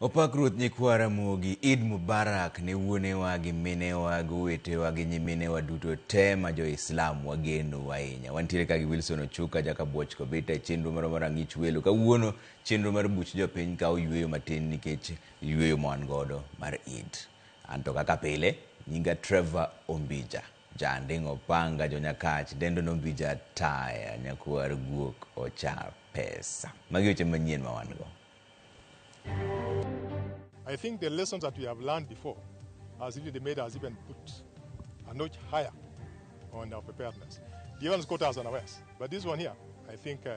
Opak Ruoth Nyikwa Ramogi, Eid Mubarak ne wuonewa gi minewa gi owetewa gi nyiminewa duto te ma jo-Islam wageno ahinya. Wantiere ka gi Wilson Ochuka, Jaka Bwoch Kobita e chenro moro mar Ang'ich Welo. Kawuono Chenro mar buch jopiny kawo yueyo matin nikech yueyo ma wan godo mar Eid. An to kaka pile, nyinga Trevor Ombija. Janding' Opanga jo-Nyakach dendo ni Ombija Ataya, nyakwar guok ochar pesa. Magi weche manyien ma wan go. I think the lessons that we have learned before has really made us even put a notch higher on our preparedness. The other ones caught us unawares, but this one here, I think uh,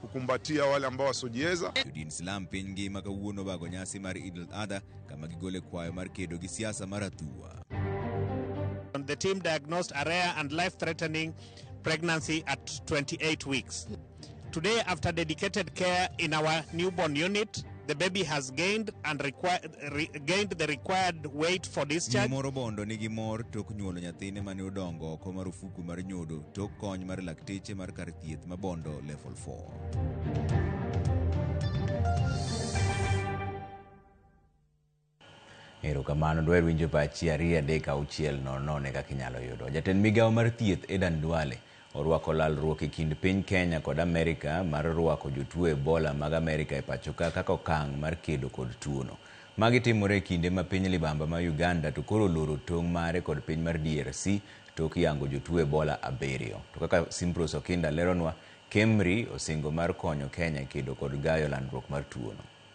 kukumbatia wale ambao wasiojiweza. Jodin Islam piny ngima kawuono obago nyasi mar Eid al-Adha kama gigole kwayo mar kedo gi siasa mar athua. The team diagnosed a rare and life threatening pregnancy at 28 weeks. Today, after dedicated care in our newborn unit, The baby has gained and required, re, gained the required weight for discharge. Nyimoro Obondo nigi mor tok nyuolo nyathine mane odongo oko marufuku mar nyodo tok kony mar lakteche mar kar thieth ma Bondo Level 4. Erokamano. Dwaher winjo pachi ariyo adek auchiel nono one kaka inyalo yudo. Jatend migao mar thieth Adan Duale orwako lalruok e kind piny Kenya kod Amerika mar rwako jotuo Ebola mag Amerika e pachoka kaka okang' mar kedo kod tuono. Magi timore e kinde ma piny libamba ma Uganda to koro oloro tong' mare kod piny mar DRC tok yango jotuo Ebola abiriyo. To kaka Simprose Okinda leronwa, KEMRI osingo mar konyo Kenya kedo kod gayo landruok mar tuono.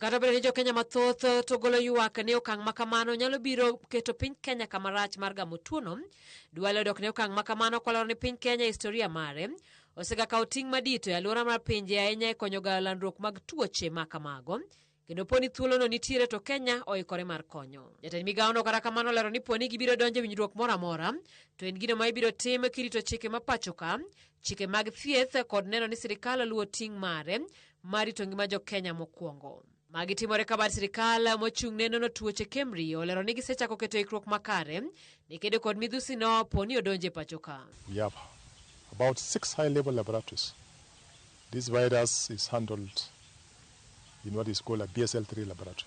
Kata obedo ni jokenya mathoth eh, to golo ywak ni okang' ma kamano nyalo biro keto piny Kenya kama rach mar gamo tuono, Duale odok ne okang' ma kamano kolero ni piny Kenya e historia mare osega kawo ting' madito e alwora mar pinje ahinya e konyo gayo landruok mag tuoche ma kamago kendo poni thuolono nitiere to Kenya oikore mar konyo. Jatend migawono kata kamano olero ni poni gibiro donjo e winjruok moro amora to en gino ma ibiro tim kirito chike ma pachoka chike mag thieth kod neno ni sirikal oluwo ting' mare mar rito ngima jokenya mokwongo magi timore ka bad sirikal mochung' ne nono tuoche KEMRI olero ni gisechako keto ikruok makare ni kedo kod midhusi no po ni odonje pacho ka We have about six high level laboratories. This virus is handled in what is called a BSL 3 laboratory.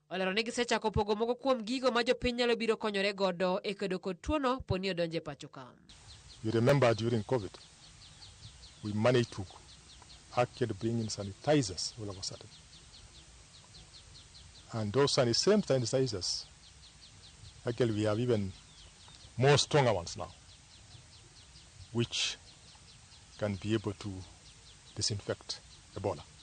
Olero ni gisechako pogo moko kuom gigo ma jopiny nyalo biro konyore godo e kedo kod tuono poni odonjo e pacho ka. You remember during Covid, we managed to actually bring in sanitizers all of a sudden. And those sani- same sanitizers, actually we have even more stronger ones now, which can be able to disinfect Ebola.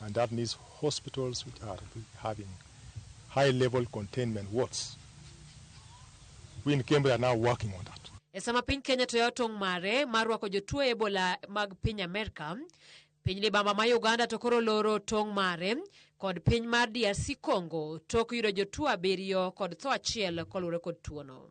And that means hospitals which are having high level containment wards. We in Cambridge are now working on that. E sama piny Kenya to tong' mare mar rwako jotuo Ebola mag piny Amerka, piny libamba ma Uganda to koro loro tong' mare kod piny mar DRC Congo tok yudo jotuo abiriyo kod tho achiel koluwore kod tuono.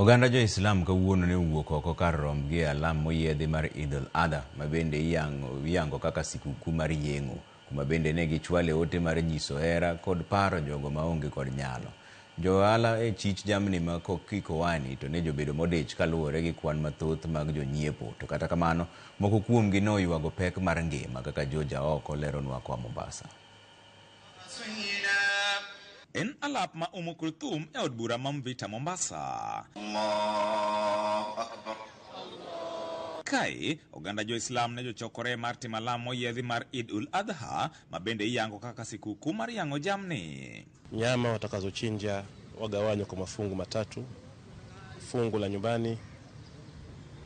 Oganda Jo-Islam kawuono ne owuok oko kar rombgi e alam moyiedhi mar Eid al-Adha, ma bende iyango kaka sikuku mar yeng'o, kuma bende ne gichwale ote mar nyiso hera kod paro jogo ma onge kod nyalo. Jo ohala e chich jamni ma kikowani to ne jobedo modich kaluwore gi kwan mathoth mag jonyiepo, to kata kamano moko kuomgi ne oywago pek mar ngima, kaka George Aoko leronwa koa Mombasa. En alap ma umo Kulthum e od bura ma Mvita Mombasa. Kae, oganda jo-Islam ne jochokore mar timo alam moyiedhi mar Eid ul Adha, ma bende iyango kaka sikukuu mar yang'o jamni. Nyama watakazochinja wagawanywa kwa mafungu matatu. fungu la nyumbani,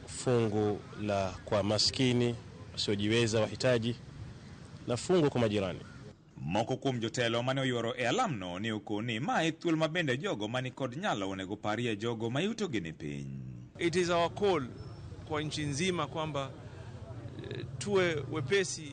fungu la kwa maskini wasiojiweza, wahitaji, na fungu kwa majirani. Moko kuom jotelo mane oyuoro e alamno ne oko ni ma e thuol ma bende jogo mani kod nyalo onego parie jogo ma yutogi ni piny. It is our call kwa nchi nzima kwamba eh, tuwe wepesi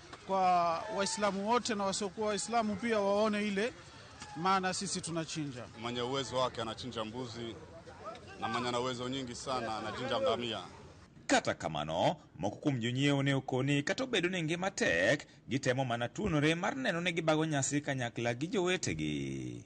kwa Waislamu wote na wasiokuwa Waislamu pia waone ile maana sisi tunachinja. Mwenye uwezo wake anachinja mbuzi na mwenye ana uwezo nyingi sana anachinja ngamia. kata kamano moko kuom jonyiewo ne okoni kata obedo ni ngima tek gitemo mana tuonore mar neno ni gibago nyasi kanyakla gi jowetegi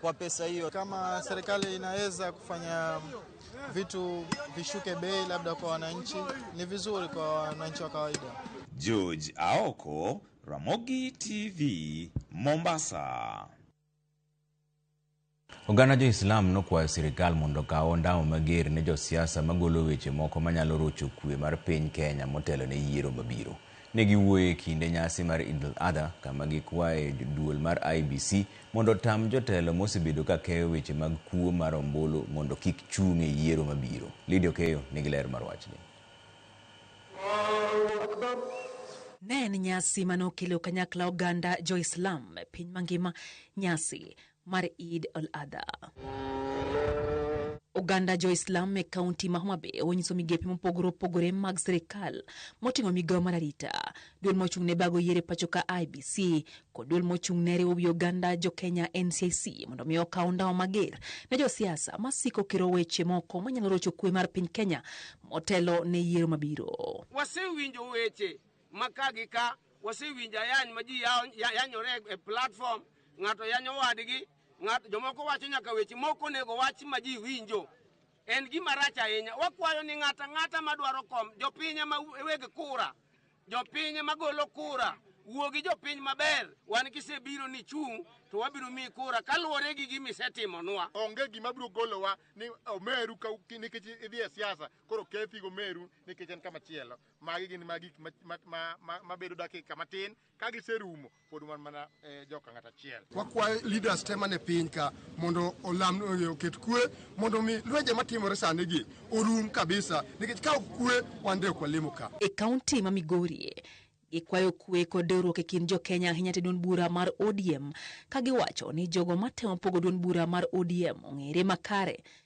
kwa pesa hiyo. Kama serikali inaweza kufanya vitu vishuke bei labda kwa wananchi, ni vizuri kwa wananchi wa kawaida. George Aoko, Ramogi TV, Mombasa. Oganda jo-Islam nokwayo sirkal mondo okaw ondamo mager ne josiasa magolo weche moko manyalo rocho kwe mar piny Kenya motelo ne yiero mabiro. Ne giwuoyo e kinde nyasi mar Eid al-Adha kama gikwaye duol mar IEBC mondo otam jotelo mosebedo ka keyo weche mag kuo mar ombulu mondo kik chung' e yiero mabiro. Lydia Okeyo nigi ler mar wachni. Ne en nyasi mane okelo kanyakla oganda jo Islam e piny mangima. Nyasi mar Eid al-Adha. Oganda jo-Islam e kaunti ma Homa Bay onyiso migepe mopogore opogore mag sirikal moting'o migawo mar arita, duol mochung' ne bago yiero e pacho ka IBC kod duol mochung' ne riwo wi oganda jo-Kenya NCIC mondo mi okaw ndawa mager ne josiasa masiko kiro weche moko manyalo rocho kwe mar piny Kenya motelo ne yiero mabiro. Wasewinjo weche ma ka gi ka wasewinjo ayany ma ji yanyore e platform, ng'ato yanyo wadgi, ng'ato jomoko wacho nyaka weche moko onego wach ma ji winjo. En gima rach ahinya. Wakwayo ni ng'ata ng'ata madwaro kom, jopiny ema weg kura, jopiny ema golo kura. Wuo gi jopiny maber, wan kisebiro ni chung' to wabiro miyi kura kaluwore gi gima isetimonwa. Onge gima biro golowa ni omeru nikech idhi e siasa, koro kethi gomeru nikech en kama chielo. Magi gin ma gik mabedo dakika matin ka giserumo pod wan mana eh, joka ng'at achiel. Wakwayo leaders te mane piny ka mondo olam eh, oket kwe mondo mi lwenje matimore sani gi orum kabisa nikech ka ok kwe wan de ok walemo ka. E kaunti ma Migori gikwayo kwe kod dewruok e kind jokenya ahinya te duond bura mar ODM ka giwacho ni jogo matemo pogo duond bura mar ODM ong'ere makare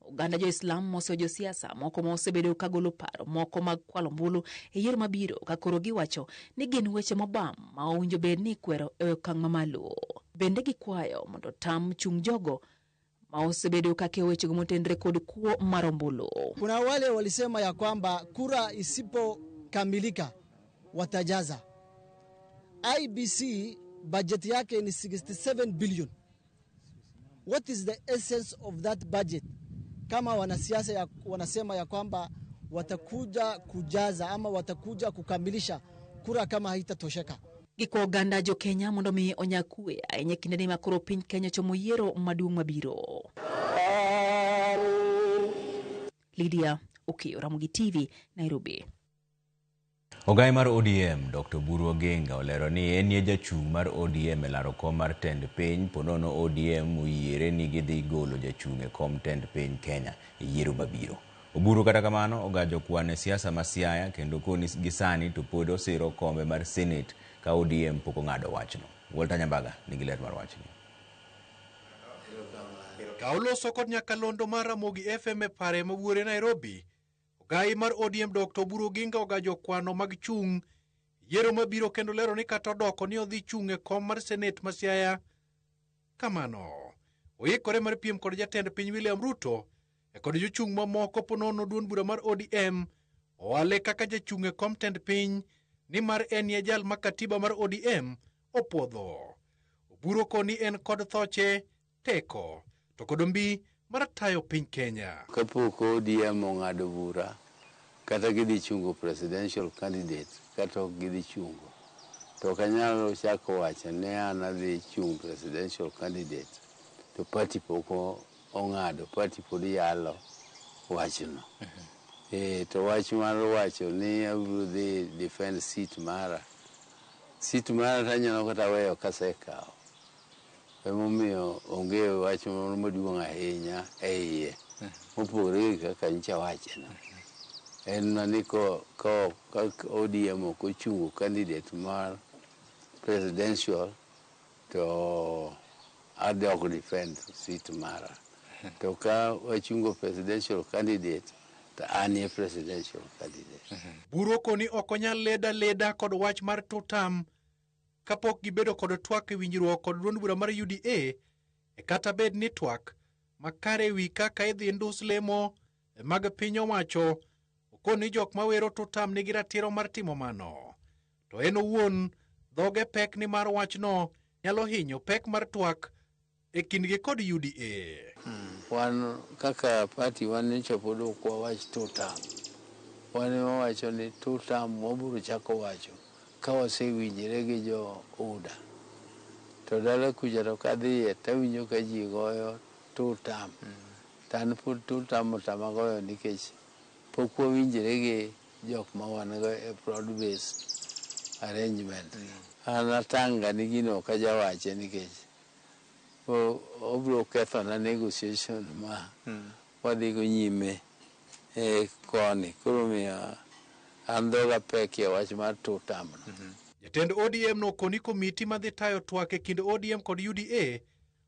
Oganda jo-Islam moso josiasa moko ma osebedo ka golo paro moko mag kwalo ombulu e yiero mabiro ka koro giwacho ni gin weche mobam ma owinjo bed ni ikwero e okang' mamalo. Bende gikwayo mondo otam chung' jogo ma osebedo ka keyo wechego motenre kod kuo mar ombulu. Kuna wale walisema ya kwamba kura isipokamilika watajaza. IEBC bajeti yake ni 67 billion. What is the essence of that budget? Kama wanasiasa ya, wanasema ya kwamba watakuja kujaza ama watakuja kukamilisha kura kama haitatosheka. Giko oganda jo Kenya mondo mi onya kue ahinya kinde ni makoro piny Kenya chomo yiero maduong' mabiro. Lydia Okiyo, Ramogi TV, Nairobi. Ogaye mar ODM, Dokta Oburu Oginga olero ni enie jachung' mar ODM e laro kom mar tend piny po nono ODM oyiere ni gidhi golo jachung' e kom tend piny Kenya e yiero mabiro. Oburu kata kamano ogajo kwan e siasa ma Siaya kendo koni gi sani to pod osiro kombe mar Senate ka ODM pok ong'ado wachno. Walter Nyambaga nigi ler mar wachni. Ka oloso kod nyakalondo mar Ramogi FM e pare ma wuore Nairobi, Ogai mar ODM Dr. Oburu Oginga ogajo kwano mag chung' yiero mabiro kendo lero ni kata odoko ni odhi chung' e kom mar senet ma Siaya. Kamano, oikore mar piem kod jatend piny William Ruto e kod jochung' mamoko ponono duon bura mar ODM owale kaka jachung' e kom tend piny ni mar en ye jal ma katiba mar ODM opwodho. Oburu koni en kod thoche teko to kod ombi mar tayo piny Kenya. Kapok ODM ong'ado bura kata gidhi chungo presidential candidate kata ok gidhi chungo to ok anyal chako wacho ni an adhi chung' presidential candidate to party pok ong'ado, party pod yalo wachno. Eh, to wach mar wacho ni abiro dhi defend seat mara, seat mara tanyalo kata weyo kasekawo. Emomiyo onge wach moro maduong' ahinya e iye mopogore gi kaka nyicha wacheno. En mana ni ko, ko, ka ODM ok ochungo candidate mar presidential to adhi ok defend seat mara. To ka wachungo presidential candidate to an e presidential candidate. Buru koni ok onyal leda leda kod wach mar two term. kapok gibedo kod twak e winjruok kod duond bura mar UDA e kata bed ni twak makare ewi kaka idhi ndus lemo e mag piny owacho okon ni jok mawero to tam nigi ratiro mar timo mano to en owuon dhoge pek ni mar wachno nyalo hinyo pek mar twak e kindgi kod UDA. Wan kaka party wan nyocha pod ok wawach two term. Wan ema wawacho ni two term wabiro chako wacho ka wasewinjre gi jo UDA. To dala kucha to kadhiye to awinjo ka ji goyo two term. To an pod two term otama goyo nikech pok wawinjre gi jok ma wan go e broad based arrangement. An atang' ga ni gino ok ajawache nikech obiro kethona negotiation ma wadhigo nyime e koni. Koro omiyo an dhoga pek e wach mar two term no. Jatend ODM no koni komiti madhi tayo twak e kind ODM kod UDA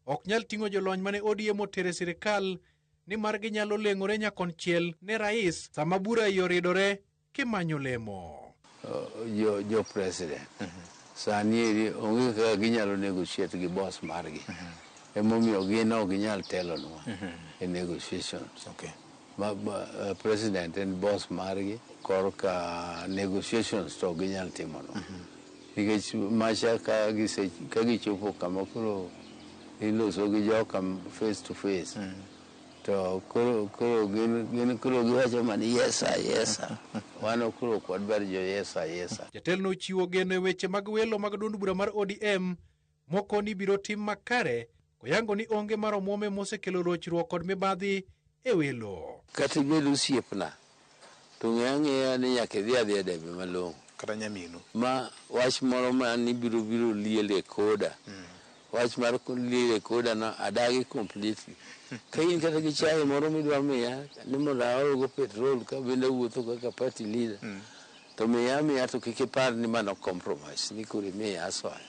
ok nyal ting'o jolony mane ODM otero e sirkal nimar ginyalo leng'ore nyakonchiel ne rais sama bura ioridore. kimanyo lemo. Jo, jo president sani eri onge kaka ginyalo negotiate gi boss margi. Emomiyo gin ok ginyal telonwa e negotiations. Okay. Ma, ma, eh, president en boss margi korka negotiations to ok ginyal timonwa. Nikech macha ka gise ka gichopo kama koro iloso gi joka face to face. to koro koro gin gin koro giwacho mana yesa yesa wan koro ok wadwar jo yesa yesa Jatelno ochiwo geno e weche mag welo mag duond bura mar ODM moko ni biro tim makare koyango ni onge mar omwom ema osekelo rochruok kod mibadhi e welo. Kata ibed osiepna To ng'e ang'eya ni nyaka idhi adhiya debe malong'o. Kata nyaminu. Ma wach moro ma ni biro biro liel e koda. Wach mar liel e koda no adagi completely. Ka in kata gi chai moro midwa miya ni mondo aol go petrol ka bende awuotho kaka party leader to miya amiya to kik ipar ni mano compromise ni koro imiya asoya.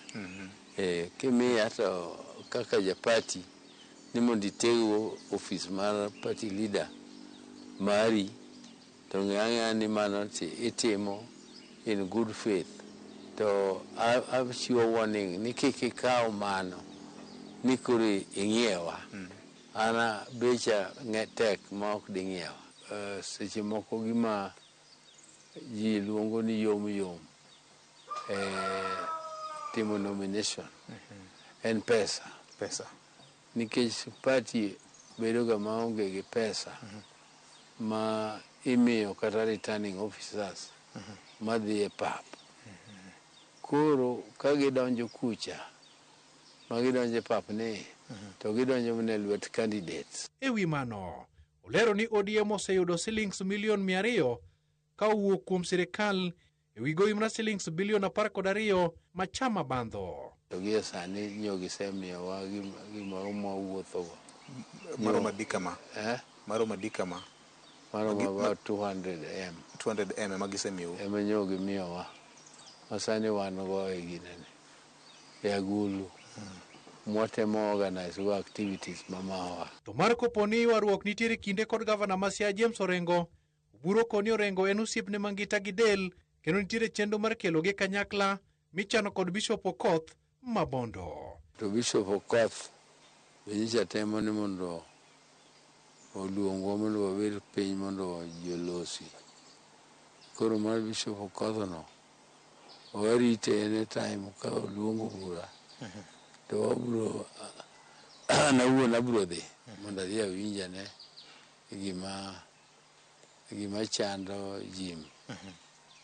Eeh, kimiya to kaka ja party ni mondo iteg go office mar party leader mari to ng'e ang'eya ni mano itimo in good faith to achiwo warning ni kik ikaw mano ni koro ing'iewa an becha tek ma ok ding'iewa. Seche moko gima ji luongo ni yom yom e timo nomination en pesa. Pesa. Nikech party bedo ga maonge gi pesa ma imiyo kata returning officers madhi e pap. Koro ka gidonjo kucha ma gidonjo e pap ni to gidonjo mana e lwet candidates. E wi mano, olero ni ODM oseyudo silings milion mia ariyo ka owuok kuom sirkal e wi gowi mra silings bilion apar kod ariyo ma chama bandho. To gie sani nyo gisemiyowa gimoro mwawuothogo. Maromo adi kama? Eh? Maromo adi kama? Maromo Magi- about 200M 200 m ema gisemiyou. ema nyo gimiyowa ma sani wan go e ginene e agulu mwatemo organize go activities ma mawa. To mar kopo ni ywaruok nitiere kinde kod Gavana ma Siaya James Orengo, Oburo koni orengo en osiepne mangita gi del kendo nitiere chenro mar kelogi e kanyakla michano kod Bishop Okoth ma Bondo. To Bishop Okoth be nyicha temo ni mondo oluongwa mondo wabed piny mondo ji olosi. Koro mar Bishop Okoth no warite any time ka oluongo bura to wabro an awuon abro dhi mondo adhi awinj ane gima gima chando Jim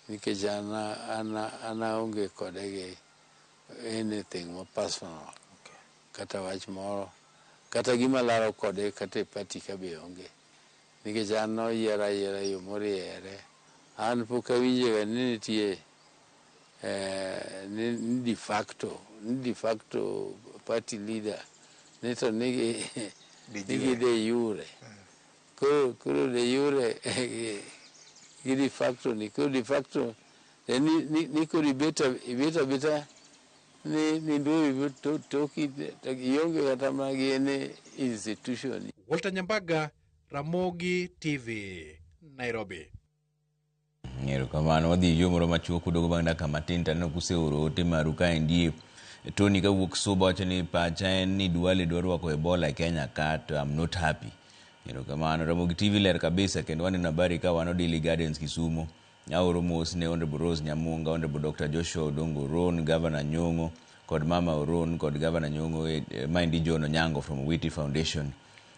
nikech an an an aonge kode gi anything ma personal kata wach moro kata gima laro kode kata e party ka be onge nikech an noyiera ayiera yo moriere an pok awinjega ni nitie eh, ni ni de facto ni de facto party leader ni to nigi nigi de yure Koro koro de jure gi de facto ni koro de facto en ni, ni, ni koro ibet a- ibet abeta ni ni ndoyo ibet to- toki to ionge kata mana gi any institution Walter Nyambaga, Ramogi TV, Nairobi. Erokamano. Wadhi e yo moro machuok kudogo bang' dakika matin taneno kuseoro ote maru kaendi. Tony kawuok Suba wacho ni pacha en ni Duale dwa rwako Ebola e Kenya ka to I'm not happy. Erokamano. Ramogi TV ler kabisa kendo waneno habari ka wan Odili Gardens Kisumo. Aoro mos ne Honorable Rose Nyamunga, Honorable Dr. Joshua Odongo Oron, Governor Nyong'o kod Mama Oron kod Governor Nyong'o eh, maendi John Onyango from Witi Foundation.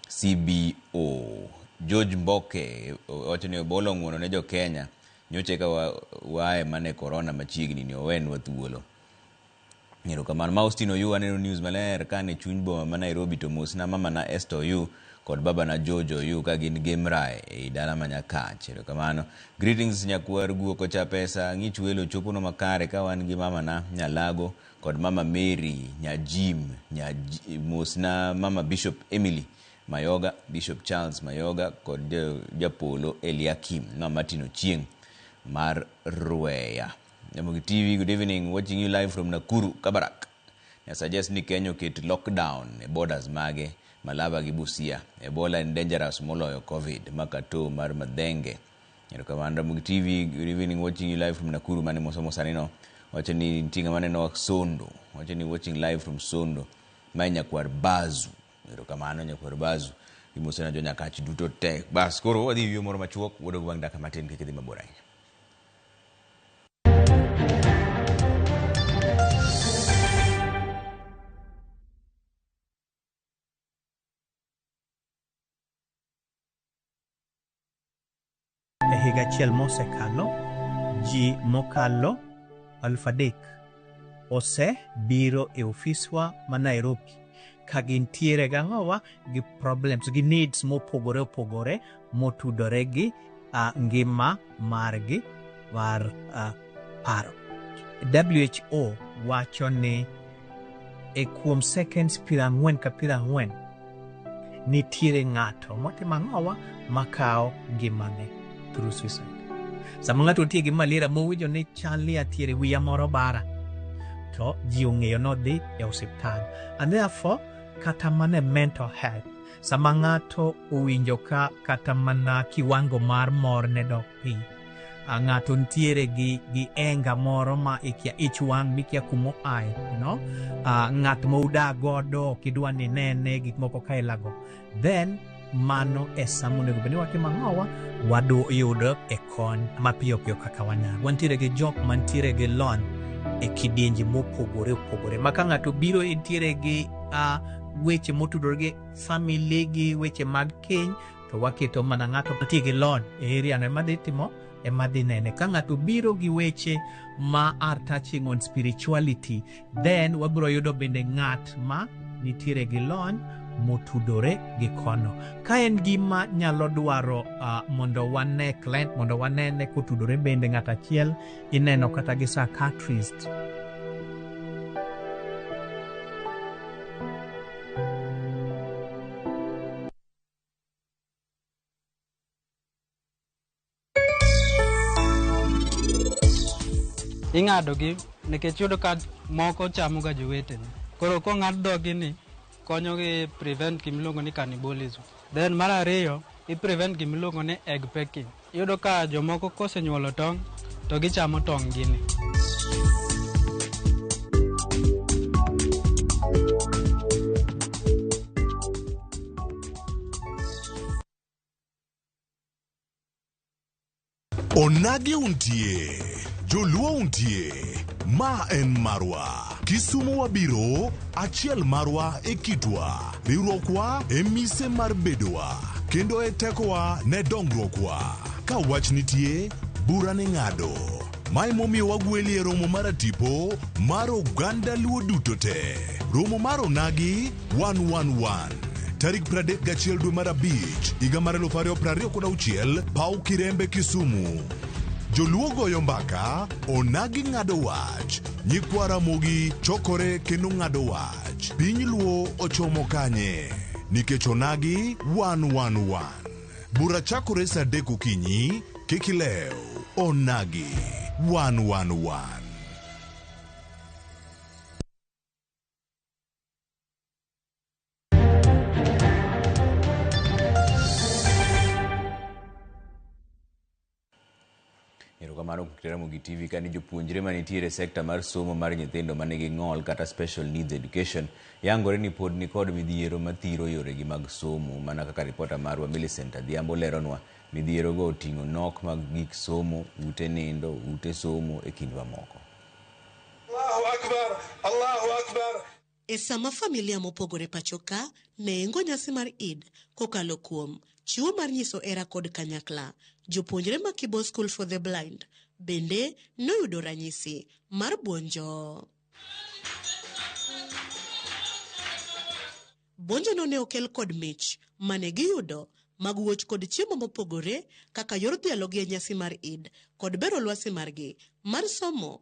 CBO. George Mboke wacho ni obolo ng'uono ne jo Kenya nyocha eka wa- wae mane corona machiegni ni owenwa thuolo. Erokamano. Ma Austin Oyu aneno news maler ka ne chuny boma ma Nairobi to mosna mamana Esther Oyu kod babana George Oyu ka gin Gemrae ei dala ma Nyakach. Erokamano. Greetings nyakwar guok ocha pesa, ng'ich welo choponwa makare ka wan gi mamana Nyalago kod mama Mary nya Jim nya J- mosna mama Bishop Emily Mayoga, Bishop Charles Mayoga kod eh, Japolo Eliakim na Martin Ochieng mar Rweya. Nyamogi TV, good evening. Watching you live from Nakuru, Kabarak. I suggest ni Kenya oket lockdown e borders mage Malaba gi Busia. Ebola en dangerous moloyo COVID. Makato mar Madhenge. Erokamano Ramogi TV, good evening, watching you live from Nakuru mane mosomo sani no. Wacho ni nitie ng'ama neno wa Sondo. Wacho ni watching live from Sondo. Mae nyakwar Bazu. Erokamano nyakwar Bazu. Imosena jo nyakach duto te. Bas koro wadhi yweyo moro machuok, wadog bang' dakika matin kik idhi mabor ahinya. E higa achiel mosekalo, ji mokalo aluf adek osebiro e ofiswa ma Nairobi ka gintiere gang'owa gi problems gi needs mopogore opogore motudore gi uh, ngima margi mar uh, paro. WHO wacho ni e kuom seconds piero ang'wen ka piero ang'wen nitiere ng'ato motimo ang'owa makawo ngimane through suicide. Sama ng'ato otie gi malaria mowinjo ni chal ni atiere wiya moro bara to ji ong'eyo nodhi e osiptal and therefore kata mana e mental health sama ng'ato owinjo ka kata mana kiwango mar mor ne dok piny a ng'ato nitiere gi gi enga moro ma ikia ich wang' mikia kuma oaye you know? uh, ng'at ma udaa godo ok idwa ni nene gik moko ka ilago then mano e sama onego bed ni watimo ang'owa wayudo e kony mapiyo piyo kaka wanyalo wantiere gi jok mantiere gi lony e kidienje mopogore opogore ma ka ng'ato biro entiere gi uh, weche motudore gi famili gi weche mag keny to waketo mana ng'ato mantie gi lony e area no ema dhi timo ema dhi nene ka ng'ato biro gi weche ma are touching on spirituality then wabiro yudo bende ng'at ma nitiere gi lony motudore gi kono ka en gima nyalo dwaro uh, mondo wane client mondo wanene kotudore bende ng'at achiel ineno kata gi psychiatrist ing'adogi nikech yudo ka moko chamoga jowetene koro kong'ad dhogi ni konyogi prevent gimiluongo ni cannibalism then mar ariyo i prevent gimiluongo ni egg packing Iyudo ka jomoko kosenyuolo tong' to gichamo tong' gini. Onagi untie, Joluo untie, ma en marwa. Kisumu wabiro, achiel marwa e kitwa. Riwruokwa e mise mar bedowa, kendo e tekowa ne dongruokwa. Ka wach nitie, bura ni ng'ado. Mae momiyo wagweli e romo mar atipo mar oganda Luo duto te. Romo mar onagi 111 tarik 31 dwe mar abich higa mar 2026 paw Kirembe Kisumu. Joluo goyo mbaka, onagi ng'ado wach, nyikwa Ramogi chokore kendo ng'ado wach. March, piny Luo ochomo kanye? Nikech onagi wan wan wan. Bura chakore saa adek okinyi, kik ilew. Onagi wan wan wan. Erokamano kuom Ramogi TV kani jopuonjre manitiere sekta mar somo mar nyithindo ma nigi ng'ol kata special needs education yangore ni pod nikod midhiero mathiro yoregi mag somo mana kaka ripota marwa Millicent Adhiambo leronwa midhierogo oting'o nok mag gik somo, ute nindo, ute somo e kind mamoko. Allahu Akbar, Allahu Akbar. E sama familia mopogore pacho ka nengo nyasi mar Eid kokalo kuom chiwo mar nyiso hera kod kanyakla, jopuonjre ma Kibo School for the Blind bende noyudo ranyisi mar buonjo. Buonjono ne okel kod mich mane giyudo mag wuoch kod chiemo mopogore kaka yor dhialogi e nyasi mar Eid kod bero lwasi margi mar somo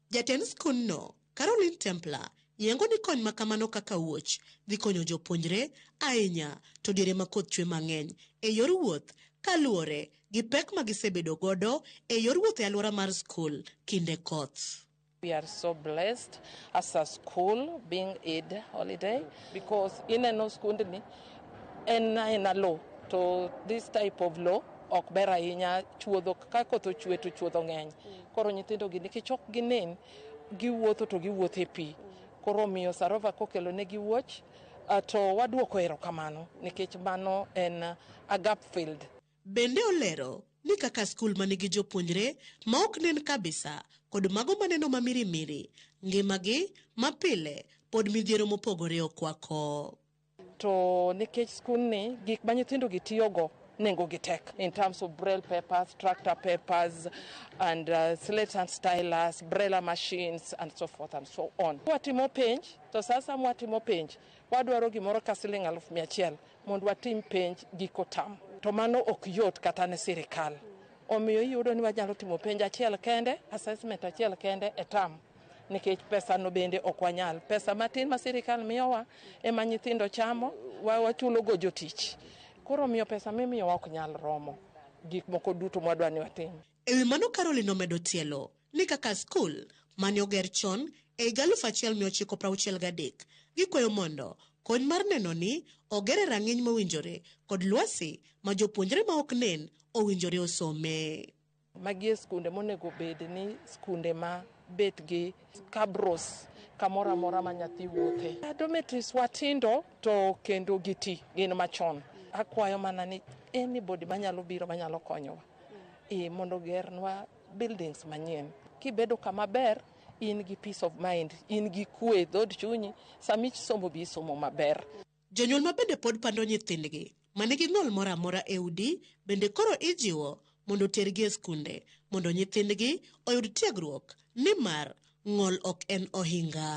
Jatend skundno, Caroline Templer, yengo ni kony ma kamano kaka wuoch dhi konyo jopuonjre ahinya to diere ma koth chwe mang'eny e yor wuoth kaluwore gi pek ma gisebedo godo e yor wuoth e alwora mar skul kinde koth. We are so blessed as a school being Eid holiday because ineno skundni en aena low to this type of low ok ber ahinya, chuodho ka koth ochwe to chuodho ng'eny. Koro nyithindo gi nikech ok ginen, giwuotho to giwuotho e pi. Koro omiyo Sarova kokelo ne gi wuoch ah, to waduoko erokamano nikech mano en ah, a gap filled. Bende olero ni kaka skul ma nigi jopuonjre ma ok nen kabisa kod mago maneno ma mirimiri, ngimagi ma pile pod midhiero mopogore okwako. To nikech skundni gik ma nyithindogi tiyogo nengogi tek in terms of braille papers, tractor papers and uh, slate and stylus, braille machines and so forth and so on. Watimo penj to sasa mwatimo penj wadwaro gimoro ka siling aluf mia achiel mondo watim penj giko tam to mano ok yot kata ne sirikal omiyo iyudo ni wanyalo timo penj achiel kende assessment achiel kende e tam nikech pesano bende ok wanyal. Pesa matin ma sirikal miyowa ema nyithindo chamo, wa- wachulogo jotich. Koro omiyo pesa mimiyowa ok nyal romo gik moko duto mwadwa ni watim. E wi mano Caroline omedo tielo ni kaka skul mane oger chon e higa 1963 gikwayo mondo kony mar neno ni ogere rang'iny mowinjore kod lwasi ma jopuonjre ma ok nen owinjore osome. Magi e skunde monego bed ni skunde ma bet gi kabros kamoro amora ma nyathi wuothe. Dormitories wa tindo to kendo giti gin machon. Akwayo mana ni anybody manyalo biro manyalo konyowa e mondo gernwa buildings manyien. Kibedo kama ber in gi peace of mind, in gi kwe dhod chunyi, sami somo bi isomo maber. Jonyuol ma bende pod pando nyithindgi ma nigi ng'ol moro amora e udi bende koro ijiwo mondo otergi e skunde mondo nyithindgi oyud tiegruok nimar ng'ol ok en ohinga.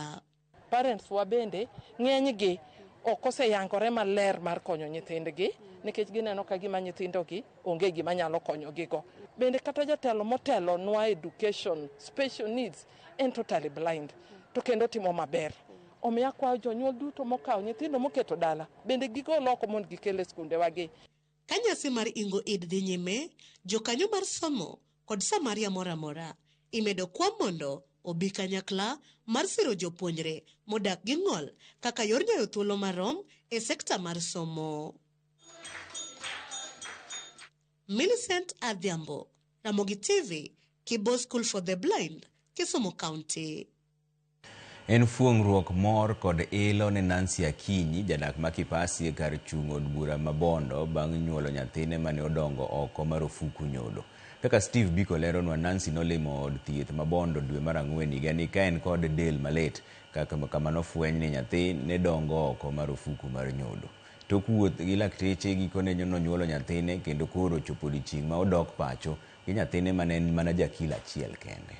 Parents wa bende ng'eny gi ok oseyangore maler mar konyo nyithindgi nikech gineno ka gima nyithindo gi onge gima nyalo konyo gi go. Bende kata jatelo motelo nwa education, special needs en totally blind to kendo otimo maber. Omiyo akwayo jonyuol duto mokawo nyithindo moketo dala bende gigol oko mondo gikel e skundewagi. Ka nyasi mar Ingo Eid dhi nyime, jokanyo mar somo kod Samaria mor amora. Imedo kwa mondo obi kanyakla mar siro jopuonjre modak gi ng'ol kaka yor nyayo thuolo marom e sekta mar somo. Millicent Adhiambo, Ramogi TV, Kibo School for the Blind, Kisumu County. En fuong'ruok, mor kod ilo ne Nancy Akinyi, jadak ma Kipasi e kar chung' od bura ma Bondo bang' nyuolo nyathine mane odongo oko marufuku nyodo. Kaka Steve Biko leronwa, Nancy nolimo od thieth ma Bondo dwe mar ang'wen higani ka en kod del malit kama nofweny ni nyathi ne dongo oko marufuku mar nyodo. Tok wuoth gi lakteche, gikone nonyuolo nyathine kendo koro ochopo odiechieng' ma odok pacho gi nyathine mane en mana ja kilo achiel kende.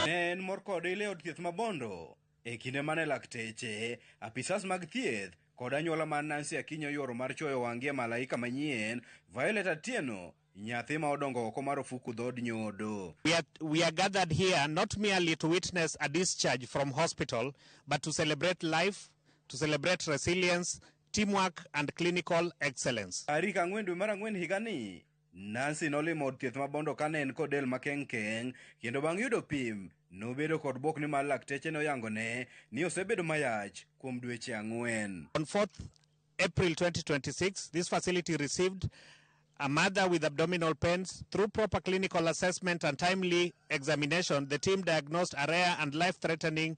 Ne en mor kode ile od thieth ma Bondo e kinde mane lakteche, apisas mag thieth kod anyuola mar Nancy Akinyi oyuoro mar chuoyo wang'gi e malaika manyien, Violet Atieno, nyathi ma odongo oko mar ofuku dhood nyodo. We are, we are gathered here not merely to witness a discharge from hospital, but to celebrate life, to celebrate resilience, teamwork, and clinical excellence. Tarik ang'wen dwe mar ang'wen higani, Nancy nolimo od thieth ma Bondo kane en kod del makeng' keng' kendo bang' yudo pim, nobedo kod bwok nimar lakteche noyangone ni osebedo mayach kuom dweche ang'wen. On 4th April 2026, this facility received a mother with abdominal pains. Through proper clinical assessment and timely examination, the team diagnosed a rare and life-threatening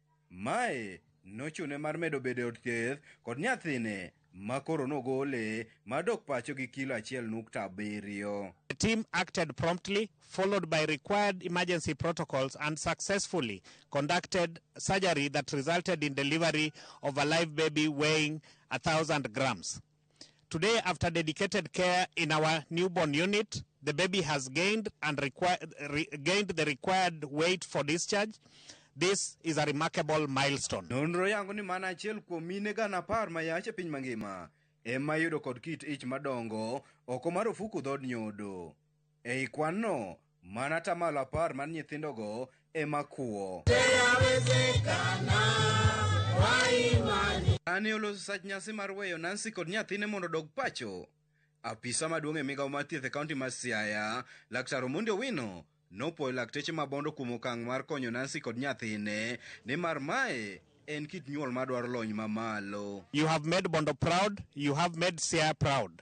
Mae nochune mar medo bedo e od thieth kod nyathine ma koro nogole mar dok pacho gi kilo achiel nukta abiriyo. The team acted promptly, followed by required emergency protocols and successfully conducted surgery that resulted in delivery of a live baby weighing a thousand grams. Today, after dedicated care in our newborn unit, the baby has gained and require, re, gained the required weight for discharge. This is a remarkable milestone. Nonro yango ni mana achiel kuom mine gana apar ma yach e piny mangima ema yudo kod kit ich madongo oko mar ofuku dhod nyodo. Ei kwanno, mana atamalo apar mar nyithindogo ema kuwo. Kane oloso sach nyasi mar weyo Nancy kod nyathine mondo odog pacho, apisa maduong' e migawo mar thieth e kaunti ma Siaya, Laktar Omondi Owino, nopwoyo lakteche ma Bondo kuom okang' mar konyo Nancy kod nyathine nimar mae en kit nyuol madwaro lony mamalo. You have made Bondo proud, you have made Siaya proud.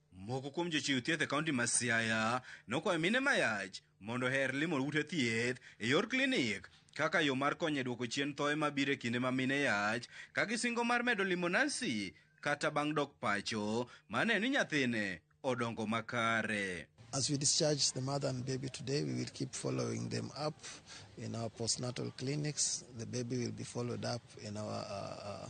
Moko kuom jochiw thieth e kaunti ma Siaya nokwayo mine mayach mondo oher limo ute thieth e yor klinik kaka yo mar konyo e dwoko chien thoe ma biro e kinde ma mine yach ka gisingo mar medo limo nasi kata bang' dok pacho ma ne ni nyathine odongo makare. As we discharge the mother and baby today, we will keep following them up in our postnatal clinics. The baby will be followed up in our uh, uh,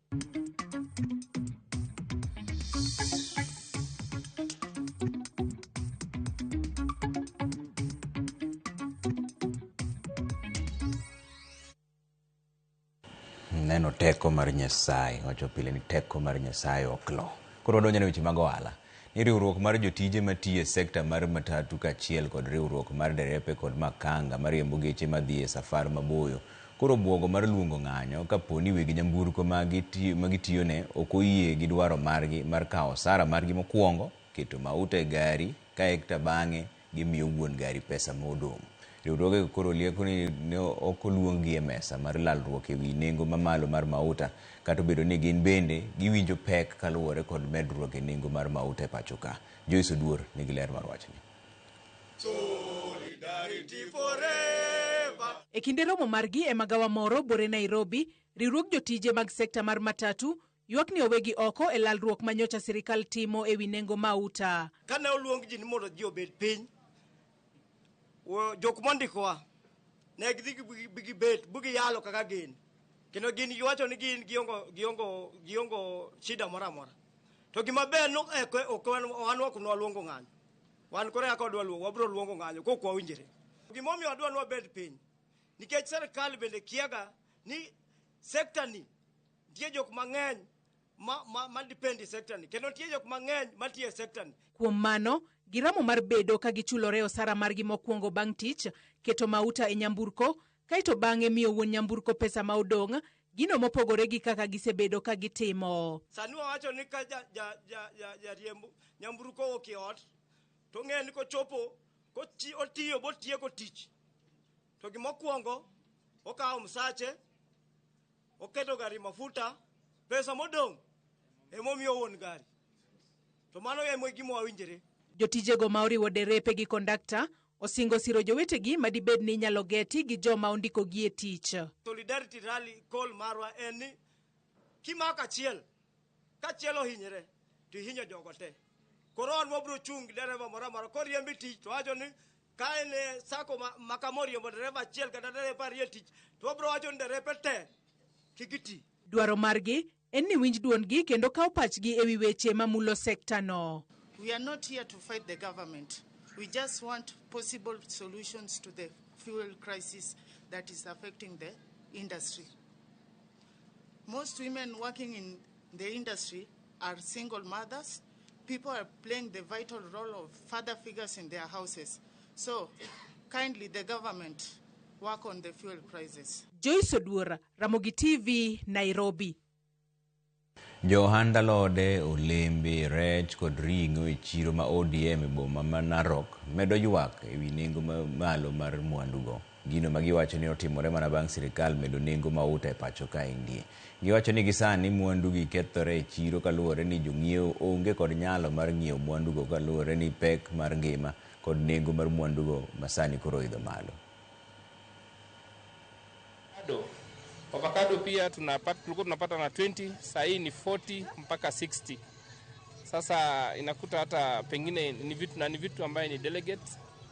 neno teko mar nyasaye wacho pile ni teko mar nyasaye ok lo koro wadonjo ne weche mag ohala ni riwruok mar jotije matiyo e sekta mar matatu kaachiel kod riwruok mar derepe kod makanga mariembo geche madhi e safar maboyo koro obwogo mar luongo ng'anyo kapo ni weg nyamburko ma gitiyone ok oyie gi dwaro margi mar kawo osara margi mokwongo, keto mauta e gari kaekta bang'e gimiyo wuon gari pesa ma odong'. Riwruogego koro lieko ni ne ok oluonggi e mesa mar lalruok e wi nengo mamalo mar mauta kata obedo ni gin bende giwinjo pek kaluwore kod medruok e nengo mar mauta e pacho ka. Joyce Oduor nigi ler mar wachni. E kinde romo margi e magawa moro bore Nairobi, riwruog jotije mag sekta mar matatu Ywak ni owegi oko e lalruok ma nyocha sirikal timo e wi nengo mauta. Kane oluong ji ni mondo ji obed piny, jok mondikowa ne gidhi gibet bugiyalo kaka gin kendo gin giwacho ni gin giongo giongo giongo shida moro amora to gima ber no ok ok wan ok nwaluongo ng'anyo wan koro kaka wadwa luongo wabiro luongo ng'anyo kok wawinjore gima omiyo wadwa nwabed piny nikech serikal bende kiaga ni sekta ni Nitie jok mang'eny ma, ma, ma depend e sector ni kendo nitie jok mang'eny matiyo e sector ni. Kuom mano, giramo mar bedo ka gichulore osara margi mokwongo bang' tich, keto mauta e nyamburko, kae to bang'e miyo wuon nyamburko pesa ma odong', gino mopogore gi kaka gisebedo ka gitimo. Sani wawacho ni ka jariemb ja, ja, ja, ja, ja nyamburko owuok e ot, to ong'eyo ni kochopo otiyo botieko tich, to gimokwongo okawo msache Oketo gari mafuta, pesa modong' emomiyo wuon gari. To mano emo gima wawinjre. Jotijego ma oriwo derepe gi kondakta osingo siro jowetegi ma dibed ni inyalo geti gi joma ondikogi e tich. Solidarity Rally call marwa en ni kimako achiel, kachiel ohinyre to ihinyo jogo te. Koro wan wabiro chung' gi dereva moro amora koriembe tich to wacho ni Ka en e sako ma, ma kama oriembo dereva achiel kata dereva ariyo e tich, to wabiro wacho ni derepe te kik iti. Dwaro margi en ni winj dwondgi kendo kaw pachgi ewi weche mamulo sekta no. We are not here to fight the government. We just want possible solutions to the fuel crisis that is affecting the industry. Most women working in the industry are single mothers. People are playing the vital role of father figures in their houses. So, kindly, the government work on the fuel prices. Joyce Odwora, Ramogi TV, Nairobi. Johand alode, olembe, rech kod ring'o e chiro ma ODM e boma ma Narok medo ywak e wi nengo mamalo mar mwandugo. Gino ma giwacho ni otimore mana bang' sirkal medo nengo mauta e pacho kaendi. Giwacho ni gisani mwandu gi kethore e chiro kaluwore ni jong'iewo onge kod nyalo mar ng'iewo mwandu go kaluwore ni pek mar ngima kod nengo mar mwandu go masani koro oidho malo. Avocado. Avocado pia tunapata, tulikuwa tunapata na 20, saa hii ni 40 mpaka 60. Sasa inakuta hata pengine ni vitu na ni vitu ambaye ni delegate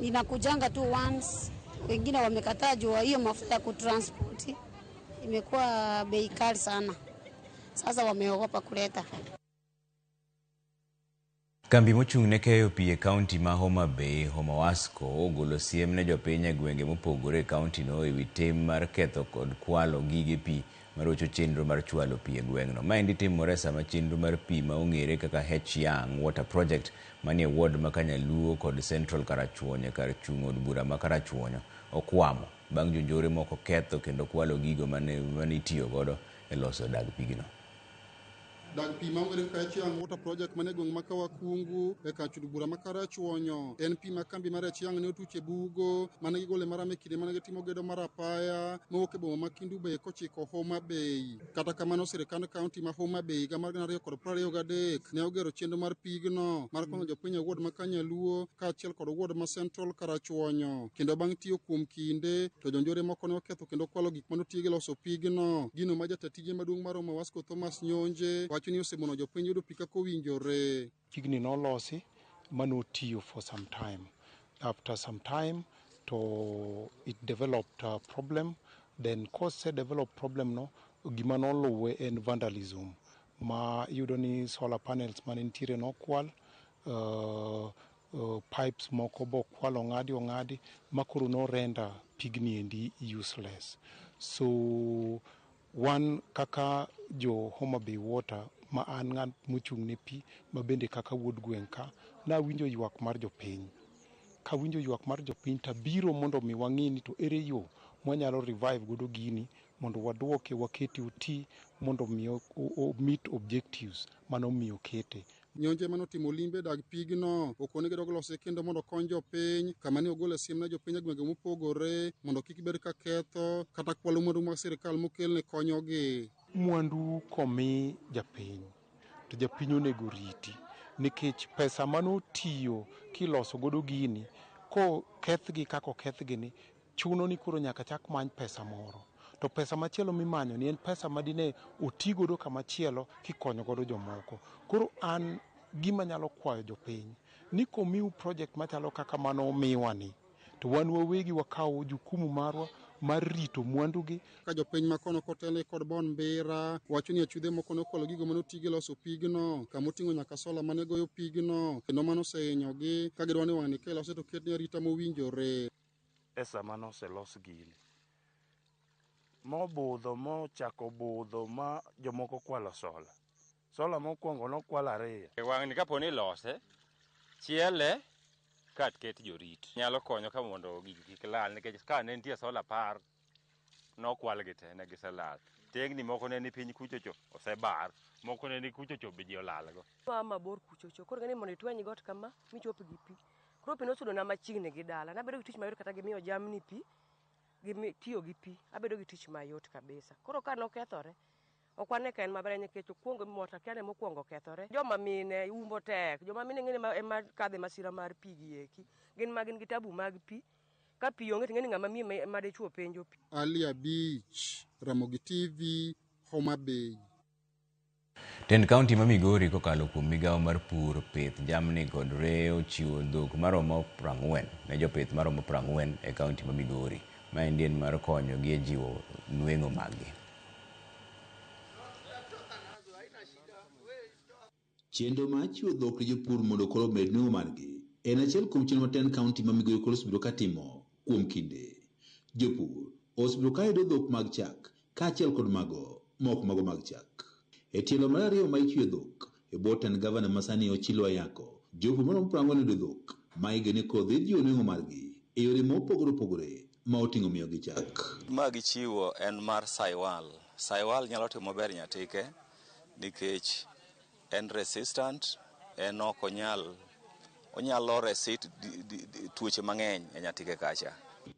inakujanga tu once. Wengine wamekataa juu ya hiyo mafuta ya kutranspoti imekuwa bei kali sana, sasa wameogopa kuleta. Kambi mochung' ne keyo pi e kaunti ma Homa Bay, Homawasco, ogolo siem ne jopiny e gwenge mopogore e kauntino e wi tim mar ketho kod kwalo gige pi marocho chenro mar chwalo pi e gweng'no. Maendi timore sama chenro mar pi ma ong'ere kaka H-Young Water Project manie ward ma Kanyaluo kod Central Karachuonyo e kar chung' od bura ma Karachuonyo okwamo bang' jonjore moko ketho kendo kwalo gigo mane itiyo godo e loso dag pigno. Dag pi ma Weren Kachiang Water Project mane gweng' ma Kawakungu e kar chudo bura ma Karachuonyo. En pi ma kambi mar Achiang' ne otuch e bugo mane gigole maram e kinde mane gitimo gedo mar apaya mowuok e boma ma Kindu Bay kochiko Homa Bay. Kata kamano sirkand kaunti ma Homa Bay higa mar gana ariyo kod piero ariyo gadek ne ogero chenro mar pigno mar konyo jopiny e ward ma Kanyaluo kaachiel kod ward ma Central Karachuonyo. Kendo bang' tiyo kuom kinde to jonjore moko ne oketho kendo kwalo gik mane otigo e loso pigno. Gino ma jata tije maduong' mar Homa Wasco Thomas Nyonje wacho ni osemono jopiny yudo pi kaka owinjore. Pigni nolosi ma notiyo for some time. After some time to it developed a problem then kose develop problem no gima noluwe en vandalism ma iyudo ni solar panels mane nitiere nokwal uh, uh, pipes moko bokwal ong'adi ong'adi ma koro no render pigni endi useless so Wan kaka jo Homa Bay Water ma an ng'at mochung' ne pi ma bende kaka wuod gweng' ka, nawinjo ywak mar jopiny. Kawinjo ywak mar jopiny to abiro mondo mi wang'i ni to ere yo mwanyalo revive godo gini mondo waduoke wakete oti mondo mi o meet objectives mane omiyo okete. Nyonje mane otimo limbe dag pigno okone gidog lose kendo mondo okony jopiny kama ne ogole siem ne jopiny e gwenge mopogore mondo kik bed ka ketho kata kwalo mwandu mag sirkal mokelne konyogi. Mwandu komi japiny to japiny onego riti nikech pesa mane otiyo kiloso godo gini kokethgi kaka okethgini Chuno ni koro nyaka chak many pesa moro. To pesa machielo mimanyo ni en pesa ma dine oti godo kamachielo kikonyo godo jomoko. Koro an gima nyalo kwayo jopiny ni komiu project machalo kaka mano umiwa ni to wan wawegi wakawo jukumu marwa mar rito mwandu gi. Ka jopiny makono kotelni kod Bon Mbira wacho ni achudhe moko nokwalo gigo mane oti gi loso pigno kama oting'o nyaka sola mane goyo pigno kendo mano osehinyogi ka gidwaro ni wang'ni ka ilose to ketne arita mowinjore. e sama noselos gini mobudho mochako budho ma jomoko kwalo sola. Sola mokwongo nokwal ariyo. E wang'ni kapo ni ilose, chiele kat ket jorit. Nyalo konyo ka mondo gigi kik lal nikech ka ne nitie sola par nokwalgi te ne giselal. Tengni moko ne ni piny kuchocho osebar, moko ne ni kuchocho be ji olalgo. Noa mabor kuchocho, koro ng'eni mondo itweny got kama michop gi pi. Koro pi nosudona machiegni gi dala, nabedo gi tich mayot kata gi miyo jamni pi, gi tiyo gi pi, abedo gi tich mayot kabisa. Koro ka nokethore, ok wane ka en maber nikech okwongo mota kia ne mokwongo okethore. Joma mine umbo tek, joma mine ing'eni ema kadhe masira mar pi gi eki. Gin ma gin gi tabu mag pi. Ka pi onge ting'eni ng'ama miyo ma- ma dichwo penjo pi. Ali Abich, Ramogi TV, Homa Bay. Tend kaunti ma Migori kokalo kuom migawo mar pur, pith jamni kod reye ochiwo dhok maromo prang'wen ne jopith maromo prang'wen e kaunti ma Migori. Maendi en mar konyo gi e jiwo nweng'o maggi. Chenro mar chiwo dhok ne jopur mondo koro omed nweng'o margi en achiel kuom chenro ma Ten County ma Migori koro osebedo ka timo kuom kinde. Jopur osebedo ka yudo dhok mag chak kaachiel kod mago ma ok mago mag chak. E tielo mar ariyo ma ichwe dhok e bwo tend gavana ma sani Ochilo Ayako, jopur maromo piero ang'wen oyudo dhok ma igeno ni koro dhi jiwo nweng'o margi e yore ma opogore opogore ma oting'o miyogi chak. Ma gichiwo en mar Saywal. Saywal nyalo timo maber Nyatike. nikech en resistant, en ok onyal onyalo resist tuoche mang'eny e nyatike kacha.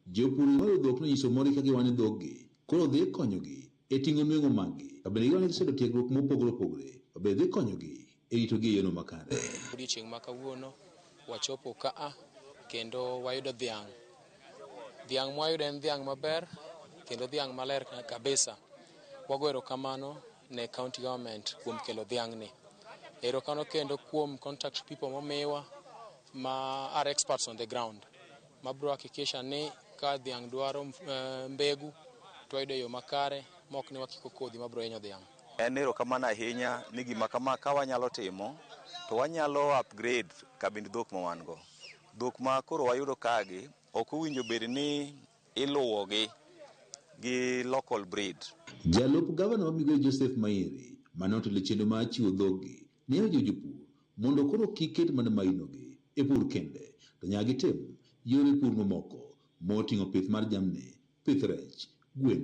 Jopur ywayo dhok nonyiso morgi ka giwang'o ni dhoggi koro dhi konyogi e ting'o nweng'o maggi. To bende giwang'o ni giseyudo tiegruok mopogore opogore ma bende dhi konyogi e ritogi e yono makare. Odiechieng' ma kawuono wachopo kaa kendo wayudo dhiang' Dhiang' mwayudo en dhiang' maber kendo dhiang' maler kabisa. Wago erokamano ne county government kuom kelo dhiang'ni. Erokamano kendo kuom contact people momiwa ma are experts on the ground ma bro hakikisha ni ka dhiang' dwaro eh, mbegu to wayudo e yo makare ma ok ni wakiko kodhi ma bro hinyo dhiang'. En erokamano ahinya ni gima kama ka wanyalo timo to wanyalo upgrade kabind dhok ma wan go. Dhok ma koro wayudo kagi ok owinjo bed ni iluwogi gi local breed. Jalup Gavana ma Migori Joseph Mairi mane otelo chenro mar chiwo dhoggi ne ojiwo jopur mondo koro kik ket mana mainogi e pur kende to nyaka gitim yore pur mamoko moting'o pith mar jamni, pith rech, gwen,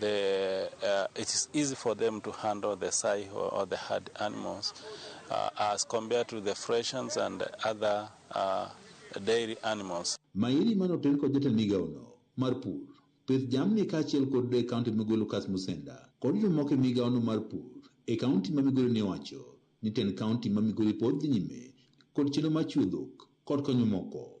the, uh, it is easy for them to handle the sai or, or the hard animals uh, as compared to the fresh ones and other uh, dairy animals. Mairi mane oter kod jatend migawono mar pur, pith jamni kaachiel kod e kaunti migoyo Lucas Musenda kod jomoko e migawono mar pur e kaunti ma Migori ne owacho ni tend kaunti ma Migori pod dhi nyime kod chenro mar chiwo dhok kod konyo moko.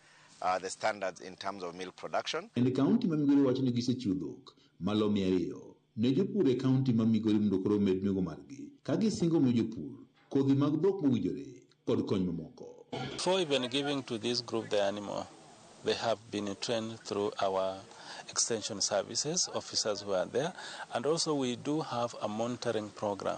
uh, the standards in terms of milk production. En kaunti ma Migori wacho ni gisechiwo dhok malo mia ariyo ne jopur e kaunti ma Migori mondo koro omed nengo margi ka gisingo miyo jopur kodhi mag dhok mowinjore kod kony mamoko. Before even giving to this group the animal, they have been trained through our extension services officers who are there and also we do have a monitoring program.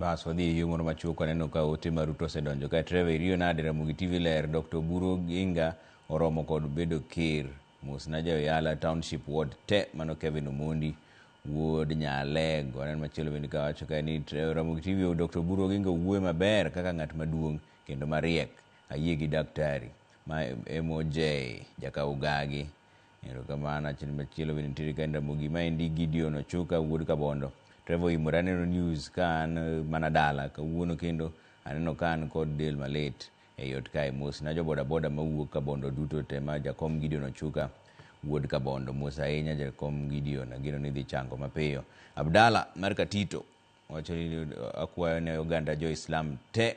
Bas wadhi e yoo moro machuok aneno ka ote ma Ruto osedonjo kae. Trevor iriyo nade Ramogi TV ler Dr. Oburu Oginga oromo kod bedo ker. Mosna ja Oyala Township Ward te mano Kevin Omondi wuod Nyalego. Aneno machielo bende ka wacho kae ni Tre- Ramogi TV o Dr. Oburu Oginga owuoyo maber kaka ng'at maduong' kendo mariek. Ayie gi daktari. Ma MOJ jaka ugagi. Erokamano. Achiel machielo bende nitiere ka en Ramogi. Maendi Gideon Ochuka wuod Kabondo. Trevor Imore aneno news ka an eh, mana dala kawuono kendo aneno ka an kod del malit ei ot kae. Mos na jo bodaboda mawuok Kabondo duto te ma Jakom Gideon Ochuka wuod Kabondo. Mos ahinya Jakom Gideon, ageno ni idhi chango mapiyo. Abdalla mar Katito wacho ni akwayo ne oganda jo Islam te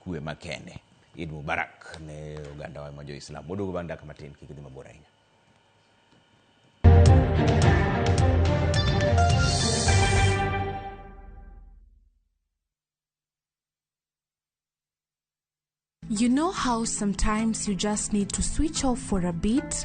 Kwe makende. Eid Mubarak ne ogandawa ma jo-Islam. Waduogo bang' dakika matin, kik idhi mabor ahinya. You know how sometimes you just need to switch off for a bit?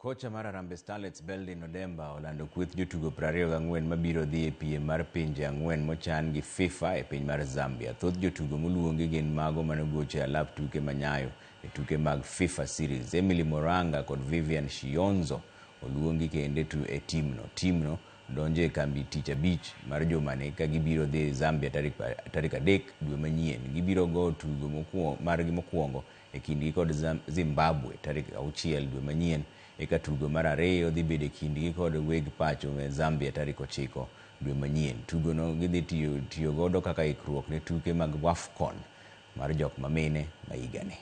Kocha mar Harambee Starlets Beldin Odemba olando kweth jotugo 24 mabiro dhi e piem mar pinje ang'wen mochan gi FIFA e piny mar Zambia. Thoth jotugo moluongi gin mago manogocho e alap tuke ma Nyayo e tuke mag FIFA Series. Emily Moranga kod Vivian Shionzo oluongi kende tu e timno. Timno donjo e kambi tich abich mar jumani ka gibiro dhi Zambia tarik adek dwe manyien. Gibiro go tugo margi mokwongo e kindgi kod Zimbabwe tarik auchiel dwe manyien, eka tugo mar ariyo dhi bedo e kindgi kod weg pacho me Zambia tarik ochiko dwe manyien. Tugono gidhi tiyo godo kaka ikruok ne tuke mag Wafcon mar jok mamine ma higani.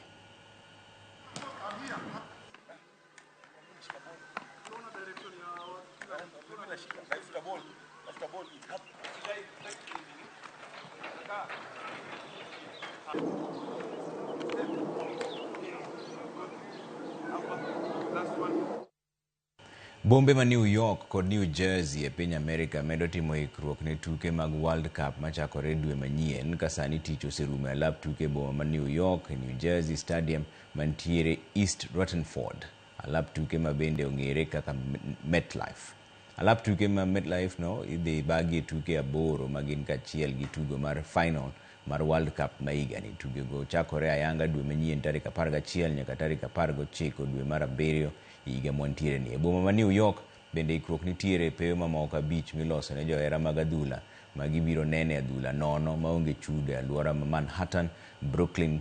Bombe ma New York kod New Jersey e piny Amerika medo timo ikruok ne tuke mag World Cup machakore dwe manyien ka sani tich oserumo e alap tuke e boma ma New York, New Jersey Stadium mantiere East Ruttenford, alap tuke ma bende ong'ere kaka MetLife. Alap tuke ma MetLife no idhi bagie tuke aboro ma gin kachiel gi tugo mar final mar World Cup ma higani. Tuge go chakore ayanga dwe manyien tarik apar gachiel nyaka tarik apar gochiko dwe mar abiriyo e higa mwantiere ni. E boma ma New York bende ikruok nitiere e pewe mamoko abich miloso ne johera mag adhula ma gibiro nene adhula nono maonge chudo e aluora ma Manhattan, Brooklyn,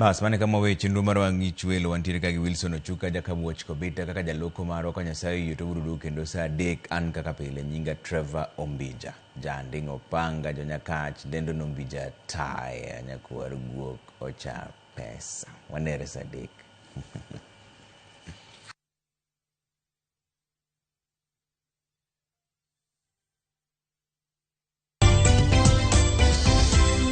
Bas, mane kama wawe chenro mar wang'ich welo wantiere ka gi Wilson Ochuka, Jacob Watch Kobita kaka jaloko marwa ka Nyasaye oyie to urudu kendo saa adek an kaka pile nyinga Trevor Ombija. Janding' Opanga, Jonyakach, Dendon Ombija Taya, Nyakwar Guok, Ocha Pesa. Wanere saa adek.